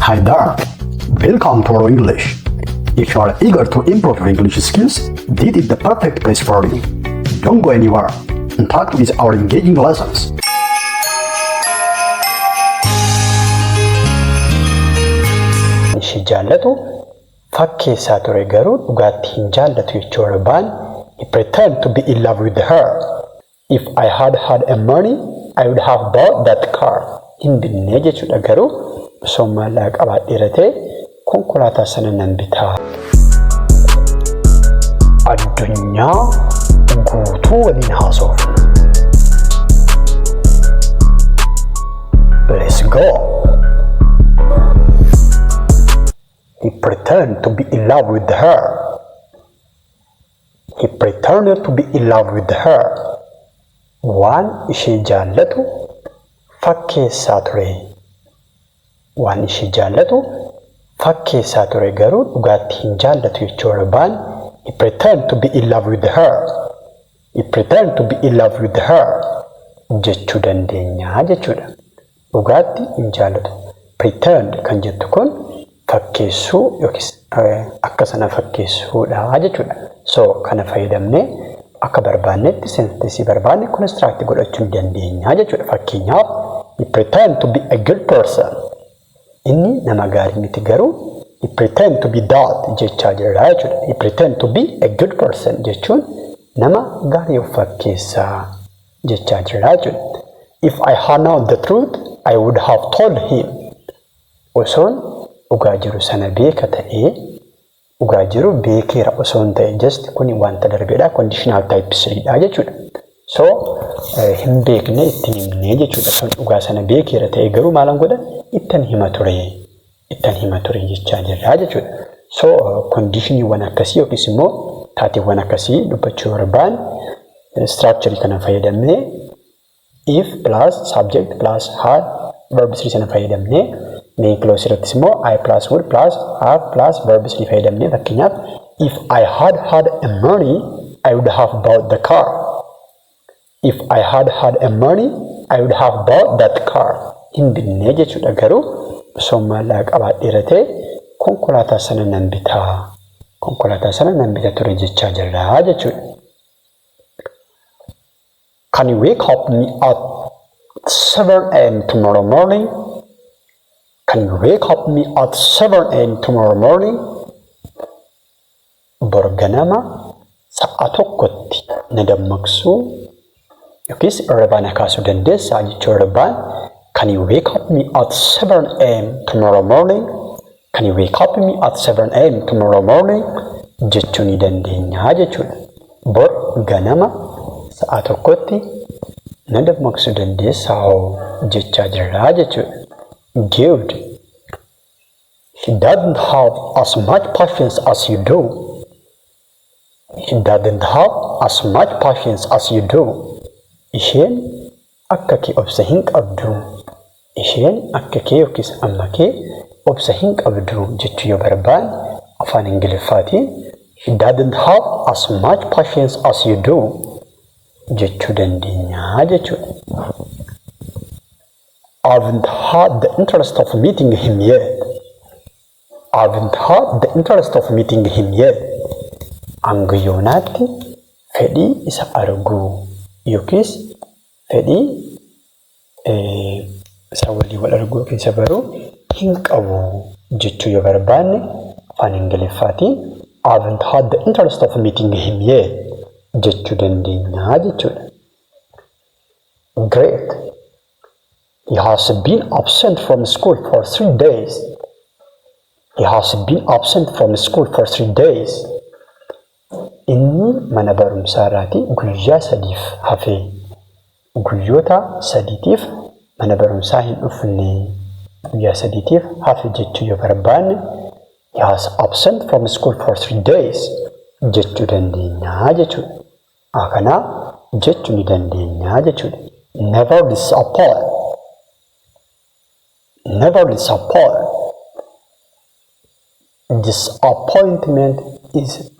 Hi there. Welcome to our English. If you are eager to improve your English skills, this is the perfect place for you. Don't go anywhere. In touch with our engaging lessons. ishii jaallatu fakkeessaa ture garuu dhugaatti hin jaallatu jechuudha baan he pretend to be in love with her If I had had a money I would have bought that car hin binnee jechuudha garuu osoon maallaqa qabaadheera ta'e konkolaataa sana nan bitaa. Addunyaa guutuu waliin haasoofna. Let's go. He pretend to be in love with her. He pretended to be in love with her. Waan ishee jaallatu fakkeessaa ture. Waan ishee jaallatu fakkeessaa ture garuu dhugaatti hin jaallatu jechuudha. Baan He pretended to be in love with her. He pretended to be in love with her jechuu dandeenya jechuudha. Dhugaatti hin jaallatu. Pretend kan jettu kun fakkeessuu yookiis akka sana fakkeessuu dha jechuu dha. So, kana fayyadamnee akka barbaannetti senteensii barbaanne construct godhachuu ni dandeenya jechuu dha. Fakkeenyaaf, He pretend to be a good person. Inni nama gaarii miti garuu He pretend to be that jechaa jirra jechuu dha. He pretend to be a good person jechuun nama gaarii of fakkeessa. jechaa jira jette. If I had known the truth, I would have told him. Osoon dhugaa jiru sana beeka ta'ee, dhugaa jiru beekeera osoon ta'e just kuni wanta darbedha conditional type 3 dha jechuudha. So hin beekne ittin himne jechuudha. Osoon dhugaa sana beekeera ta'ee garuu maalan godha ittan hima ture. ittan hima ture jechaa jirra jechuudha. So kondiishiniiwwan akkasii yookiis immoo taateewwan akkasii dubbachuu barbaan istiraakcharii kana fayyadamnee if plus subject plus had verb 3 sana fayyadamnee main clause irrattis immoo I plus would plus have plus verb 3 fayyadamnee fakkeenyaaf if I had had a money I would have bought the car If I had had a money I would have bought that car hin binnee jechuudha garuu osoon maallaqa qabaadheera ta'e konkolaataa sana nan bita konkolaataa sana nan bita ture jechaa jirra jechuudha. Can you wake up me at 7 a.m. tomorrow morning? Can you wake up me at 7 a.m. tomorrow morning? Bor ganama sa'a tokkotti na dammaqsuu yookiis irribaa na kaasuu dandeessaa? Jechuun irribaan Can you wake up me at seven AM tomorrow morning? Can you wake up me at seven AM tomorrow morning? jechuu ni dandeenya jechuudha. Bor ganama sa'a tokkotti na dammaqsuu dandeessaa hoo? jechaa jirra jechuudha. Good. He doesn't have as much patience as you do. He doesn't have as much patience as you do. Isheen akka kee obsa hin qabdu. Isheen akka kee yookiis amma kee obsa hin qabdu jechuu yoo barbaanne afaan Ingiliffaatiin He doesn't have as much patience as you do jechuu dandeenya jechuudha. I'vn't had the interest of meeting him yet. I'vn't had the interest of meeting him yet. Hanga yoonaatti fedhii isa arguu yookiis fedhii isa waliin wal arguu yookiin isa baruu hin qabu jechuu yoo barbaanne afaan Ingiliffaatiin I'vn't had the interest of meeting him yet jechuu dandeenya jechuudha. Great. He has been absent from school for three days. He has been absent from school for three days. Inni mana barumsaa irraatii guyyaa sadiif hafee guyyoota sadiitiif mana barumsaa hin dhufne guyyaa sadiitiif hafe jechuu yoo barbaanne he has absent from school for three days jechuu dandeenya jechuudha. Akana jechu ni dandeenya jechudha. Never disappoint. Never disappoint. Disappointment is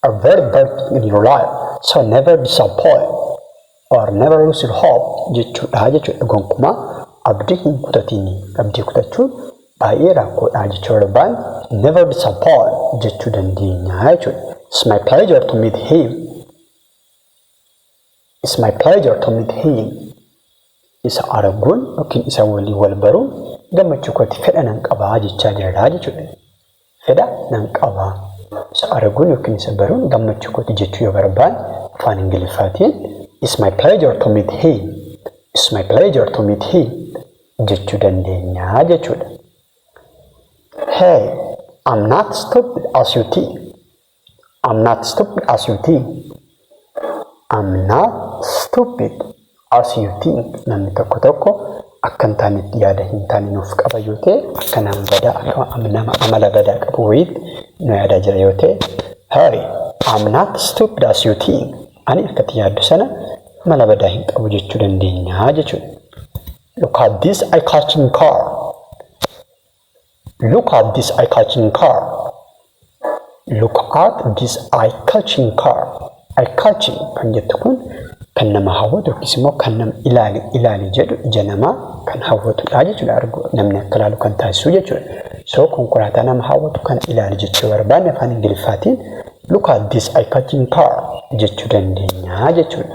a very bad thing in your life. So never disappoint or never lose your hope jechuudha jechuudha. Gonkumaa abdii hin kutatiin. Abdii kutachuun Baay'ee rakkoodha jechuu darbaan never disappoint jechuu dandeenya jechuudha. It's my pleasure to meet him. It's my pleasure to meet him. Isa arguun yookiin isa waliin wal baruun gammachuu kooti fedha nan qabaa jechaa jirra jechuudha. Fedha nan qaba. Isa arguun ykn isa baruun gammachuu kooti jechuu yoo barbaanne afaan Ingiliffaatiin It's my pleasure to meet him, It's my pleasure to meet him jechuu dandeenya jechuudha. Hey, I'm not stupid as you think. I'm not stupid as you think. I'm not stupid as you think. Namni tokko tokko akka hin taanetti yaada hin taane nuuf qaba yoo ta'e akka nama badaa akka nama amala badaa qabu wayiitti nu yaadaa jira yoo ta'e Hey, I'm not stupid as you think. Ani akkatti yaaddu sana amala badaa hin qabu jechuu dandeenya jechuudha. Look at this eye-catching car. Look at this eye catching car. Look at this eye catching car. Eye catching kan jettu kun kan nama hawwatu yookiis immoo kan nama ilaali ilaali jedhu ija namaa kan hawwatudha jechuudha. Argu namni akka ilaalu kan taasisu jechuudha. So konkolaataa nama hawwatu kan ilaali jechuu barbaanne afaan Ingiliffaatiin look at this eye catching car jechuu dandeenya jechuudha.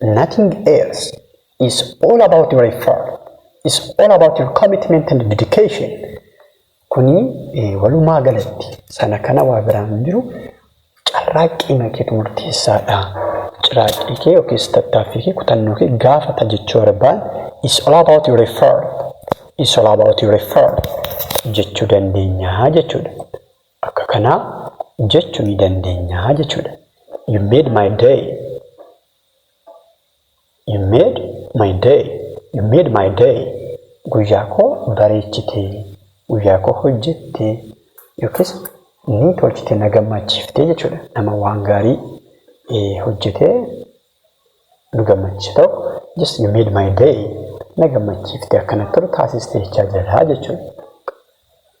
Nothing else is all about your effort is all about your commitment and dedication kuni walumaa galatti sana kana waa biraan hin jiru carraaqqii makeetu murteessaadha ciraaqqii kee yookiis tattaaffii kee kutannoo kee gaafata jechuu barbaan is all about your effort is all about your effort jechuu dandeenya jechuudha. Akka kanaa jechu ni dandeenya jechuudha. You made my day You made my day You made my day Guyyaa koo bareechite Guyyaa koo hojjette yookiis ni tolchite na gammachiifte jechuudha. Nama waan gaarii hojjetee nu gammachiise tokko just you made my day na gammachiifte akka natti tolu taasiste jechaa jira jechuudha.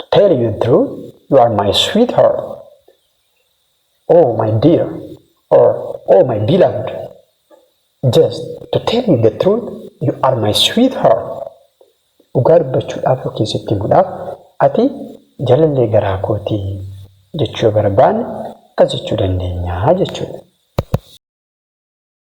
To tell you truth, you are my sweetheart. Oh my dear, or oh my beloved. Just to tell you the truth, you are my sweetheart. Dhugaa dubbachuudhaaf yookiin sitti himuudhaaf ati jalallee garaa kooti jechuu yoo barbaanne akkas jechuu dandeenya jechuudha.